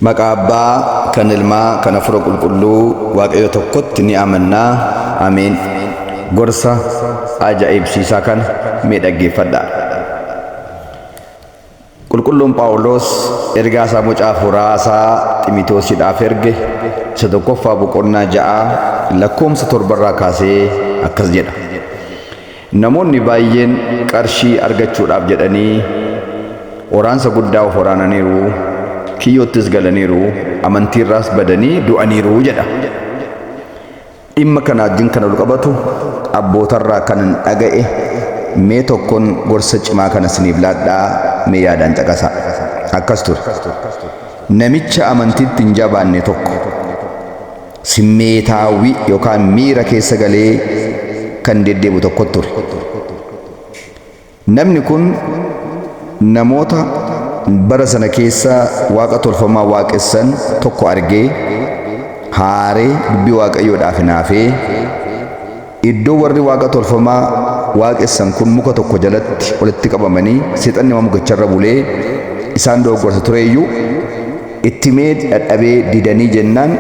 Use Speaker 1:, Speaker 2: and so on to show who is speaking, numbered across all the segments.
Speaker 1: Maqaa Abbaa, kan Ilmaa, kan Hafuura Qulqulluu, Waaqayyo tokkotti ni amanna. Ameen. Gorsa ajaa'ibsiisaa kana mee dhaggeeffadhaa. Qulqulluun Phaawulos ergaa isaa mucaa hafuuraa isaa Ximitoosiidhaaf erge isa tokkoffaa boqonnaa ja'a lakkoomsa torbarraa kaasee akkas jedha. Namoonni baayyeen qarshii argachuudhaaf jedhanii waraansa guddaa of waraananiiru, kiyyoottis galaniiru, amantiirraas badanii du'aniiru jedha. Dhimma kana wajjin kan walqabatu abbootarraa kanan dhaga'e mee tokkon gorsa cimaa kana isiniif laadhaa mee yaadaan caqasaa. Akkas ture. Namicha amantiitti hin jabaanne tokko simmeetaawwi yookaan miira keessa galee kan deddeebu tokkot ture. Namni kun namoota bara sana keessa waaqa tolfamaa waaqessan tokko argee, haaree dubbii Waaqayyoo dhaaf hinaafee, Iddoo warri waaqa tolfamaa waaqessan kun muka tokko jalatti walitti qabamanii seexanni waan mukicharra bulee isaan dogoggorsa tureyyuu, itti himee dadhabee didanii jennaan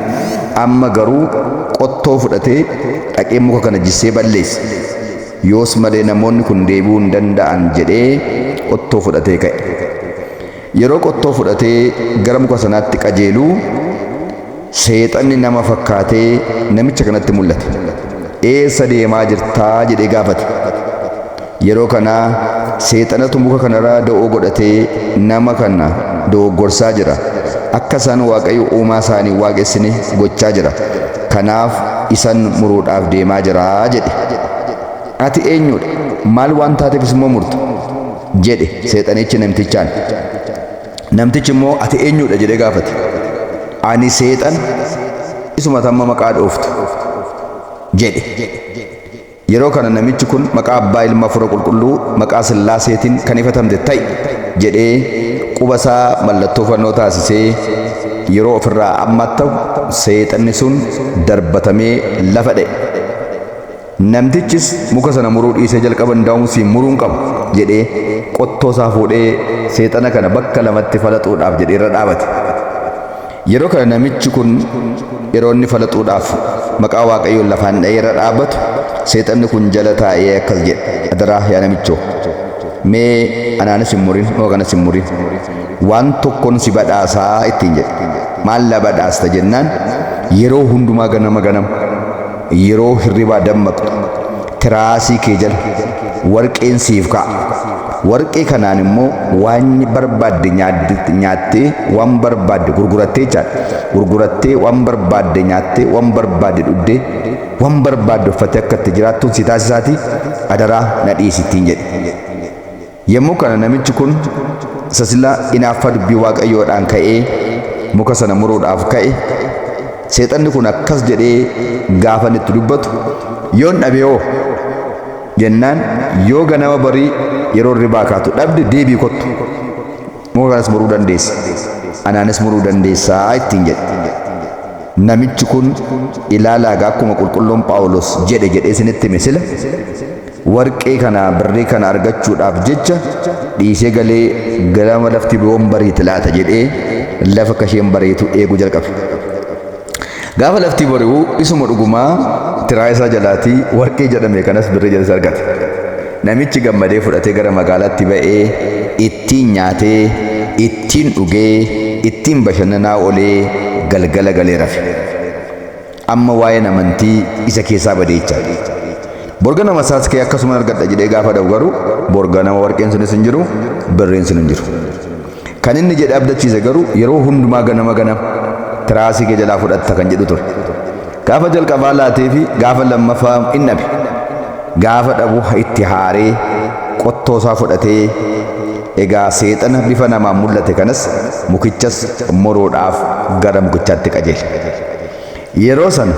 Speaker 1: amma garuu qottoo fudhatee dhaqee muka kana jissee balleesse. Yoos malee namoonni kun deebi'uu hin danda'an jedhee qottoo fudhatee ka'e. Yeroo qottoo fudhatee gara muka sanaatti qajeelu, Seexanni nama fakkaatee namicha kanatti mul'ate. Eessa deemaa jirta? jedhee gaafate. Yeroo kana Seexanatu muka kanarra da'oo godhatee nama kana dogoggorsaa jira. Akka isaan Waaqayyo uumaa isaa hin waaqessine gochaa jira. Kanaaf isan muruudhaaf deemaa jira jedhe. Ati eenyudha? Maal waan taateefis immoo murta? jedhe seexanichi namtichaan. Namtichi immoo ati eenyudha jedhee gaafate. Ani seexan isuma tamma maqaa dhooftu jedhe. Yeroo kana namichi kun maqaa abbaa ilma fura qulqulluu maqaa sillaaseetiin kan ifatamte ta'i jedhee quba isaa mallattoo fannoo taasisee yeroo ofirraa ammattahu seexanni sun darbatamee lafa dha'e. Namtichis muka sana muruu dhiisee jalqaba ndaawum siin muruun qaba jedhee qottoo isaa fuudhee seexana kana bakka lamatti falaxuudhaaf jedhee irra dhaabate. Yeroo kana namichi kun yeroo inni falaxuudhaaf maqaa Waaqayyoon lafaan dha'ee irra dhaabatu seexanni kun jala taa'ee akkas jedhe adaraa yaa namichoo mee anaanis hin murin muka kanas hin murin waan tokkon si badhaasaa ittiin jedhe maallaa badhaasta jennaan yeroo hundumaa ganama ganama Yeroo hirribaa dammaqxu tiraasii kee jala warqeen siif ka'a. Warqee kanaan immoo waan barbaadde nyaattee, waan barbaadde gurgurattee jechaadha. Gurgurattee waan barbaadde nyaattee, waan barbaadde dhugdee, waan barbaadde uffattee akka itti jiraattuun si taasisaatii adaraa na dhiisi ittiin jedhe. Yommuu kana namichi kun isa sila inaaffaa dubbii Waaqayyoodhaan ka'ee muka sana muruudhaaf ka'e, Seexanni kun akkas jedhee gaafa inni itti dubbatu, Yoon dhabe hoo? jennaan, Yoo ganama barii yeroo hirribaa kaatu dhabde deebi'i kottu. Muka kanas muruu dandeessa. Anaanis muruu dandeessa ittiin jedhe. Namichi kun ilaalaagaa akkuma qulqulluun Phaawulos jedhe jedhee isinitti hime sila Warqee kana birrii kana argachuudhaaf jecha dhiisee galee ganama lafti yoom bariiti laata jedhee lafa akka isheen bariitu eeguu jalqabe. Gaafa lafti bari'u isuma dhugumaa tiraa isaa jalaatii warqee jedhame kanas birrii jedhes argate. Namichi gammadee fudhatee gara magaalaatti ba'ee ittiin nyaatee, ittiin dhugee, ittiin bashannanaa olee galgala galee rafe. Amma waa'een amantii isa keessaa badee jechaa dha. Bor ganama isaas ka'ee akkasuman argadha jedhee gaafa dha'u garuu bor ganama warqeen sunis hin jiru, birriin sun hin jiru. Kan inni jedhe abdachiise garuu yeroo hundumaa ganama ganama tiraasii kee jalaa fudhatta kan jedhu ture. Gaafa jalqabaa laatee fi gaafa lammaffaa in dhabe. Gaafa dhabu itti haaree qottoo isaa fudhatee egaa seexana bifa namaan mul'ate kanas mukichas muruudhaaf gara mukichaatti qajeele. Yeroo sana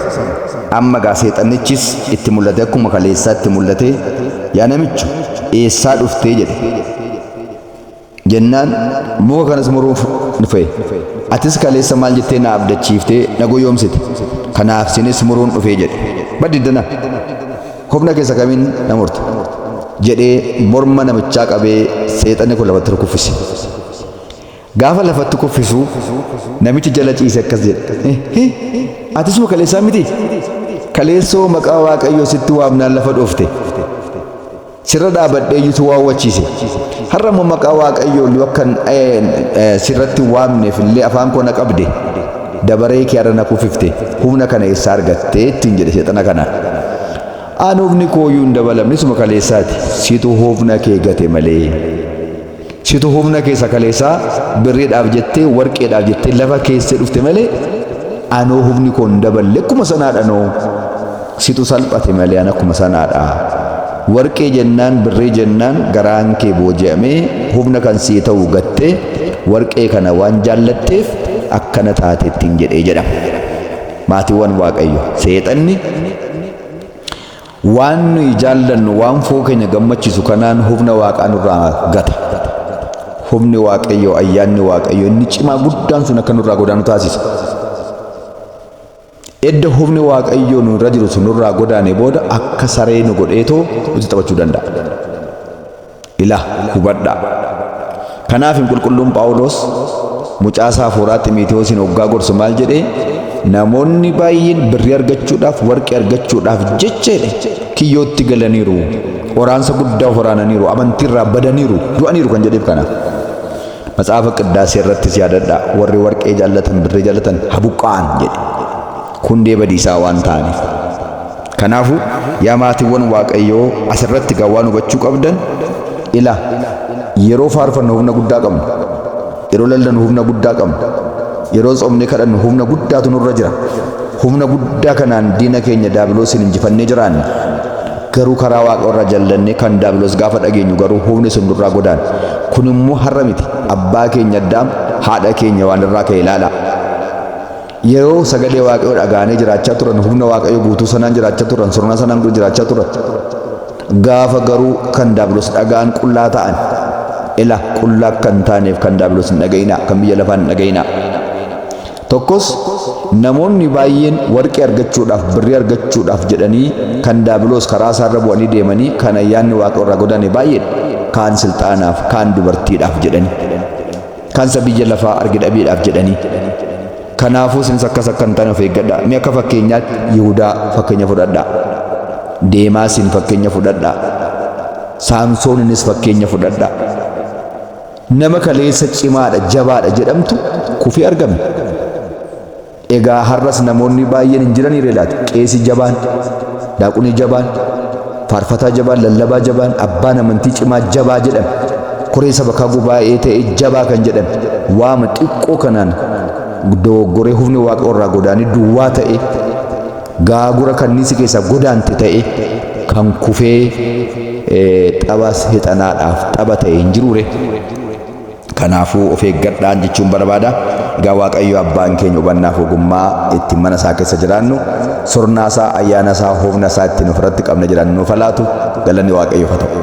Speaker 1: amma gaa seexannichis itti mul'ate akkuma kaleessaa itti mul'ate yaa namicho eessaa dhuftee jedhe. Jennaan muka kanas muruuf dhufe. Atis kaleessa maal jettee na abdachiiftee na goyoomsite. Kanaaf sinis muruun dhufee jedhe. Baddiddana humna keessa kamiin na murte jedhee morma namichaa qabee seexanni kun lafatti rukuffise. Gaafa lafatti kuffisu namichi jala ciise akkas jedhe. Hi atisuma kaleessaa miti? Kaleessoo maqaa Waaqayyoo sitti waamnaan lafa dhoofte. Sirra dhaabadhee iyyutu waawwachiise. Har'a immoo maqaa Waaqayyoo illee akkan sirratti waamneef illee afaan koo na qabde. Dabaree kee har'a na kuffifte. Humna kana eessaa argattee ittiin jedhe seexana kana. Aan humni kooyyuu hin dabalamne suma kaleessaati. Situ humna kee gate malee. Situ humna keessa kaleessaa birriidhaaf jettee warqeedhaaf jettee lafa keessee dhufte malee anoo humni koo hin daballe akkuma sanaadha noo situ salphate malee an akkuma sanaadha. Warqee jennaan birrii jennaan garaan kee booji'amee humna kan sii ta'u gattee warqee kana waan jaallatteef akkana taate ittiin jedhee jedhama. Maatiiwwan Waaqayyo seexanni Waan nuyi jaallannu, waan foon keenya gammachiisu kanaan humna Waaqaa nurraa gata. Humni Waaqayyoo, ayyaanni Waaqayyoo inni cimaa guddaan sun akka nurraa godaanu taasisa. Edda humni Waaqayyoo nurra jiru sun nurraa godaane booda akka saree nu godheetoo nutti taphachuu danda'a. Ila, hubadhaa. Kanaafi Qulqulluun Phaawuloos mucaa isaa hafuuraa Ximiitiwoosiin hoggaa gorsu maal jedhee? Namoonni baay'een birrii argachuudhaaf, warqii argachuudhaaf jecha jedhe kiyyootti galaniiru, qoraansa guddaa of waraananiiru, amantiirraa badaniiru, du'aniiru kan jedheef kana. Matsaafa Qiddaasee irrattis yaadadhaa warri warqee jaallatan, birrii jaallatan habuqqa'an jedhe. Hundee badiisaa waan ta'aniif. Kanaafu, yaa maatiwwan Waaqayyoo as irratti egaa waan hubachuu qabdan, Ila! Yeroo faarfannu humna guddaa qabna. Yeroo lallanu humna guddaa qabna. Yeroo tsoomnee kadhannu humna guddaatu nurra jira. Humna guddaa kanaan diina keenya Daabiloosiin injifannee jiraanna. Garuu karaa Waaqa irraa jallannee kan Daabiloos gaafa dhageenyu garuu humni sun nurraa godaana. Kun immoo har'a miti, abbaa keenya Addaam, haadha keenya Hewaan irraa ka'e ilaalaa. Yeroo sagalee Waaqayyoo dhaga'anii jiraachaa turan, humna Waaqayyoo guutuu sanaan jiraachaa turan, sirna sanaan dura jiraachaa turan. Gaafa garuu kan Daabilos dhaga'an qullaa ta'an. Ila qullaa akka hin taaneef kan Daabilos hin dhaga'inaa, kan biyya lafaa hin dhaga'inaa. Tokkos namoonni baay'een warqee argachuudhaaf, birrii argachuudhaaf jedhanii kan Daabilos karaa isaarra bu'anii deemanii kan ayyaanni Waaqayyoo irraa godaane baay'eedha. Kaan silxaanaaf, kaan dubartiidhaaf jedhanii. Kansa biyya lafaa arge dhabeedhaaf jedhanii. Kanaafuu isinis akkas akka hin taane of eeggadha. Mee akka fakkeenyaatti Yihudaa fakkeenya fudhadha. Deemaasiin fakkeenya fudhadha. Saamsooninis fakkeenya fudhadha. Nama kaleessa cimaadha, jabaadha jedhamtu kufee argame. Egaa har'as namoonni baay'een hin jiraniiree laata? Qeesii jabaan, daaqunii jabaan, faarfataa jabaan, lallabaa jabaan, abbaan amantii cimaa jabaa jedhame, koree sabakaa gubaa'ee ta'e jabaa kan jedhame, waama xiqqoo kanaan dogoggoree hufni waaqa irraa godaanee duwwaa ta'e, gaagura kanniisi keessaa godaante ta'e, kan kufee xabas hexanaadhaaf xaba ta'e hin jiruure? Kanaafuu of eeggadhaan jechuun barbaada. Egaa Waaqayyo abbaan keenya hubannaaf ogummaa ittiin mana isaa keessa jiraannu, surnaa isaa, ayyaana isaa, humna isaa ittiin ofirratti qabne jiraannu nuuf haa laatu. Galanni Waaqayyoof haa ta'u.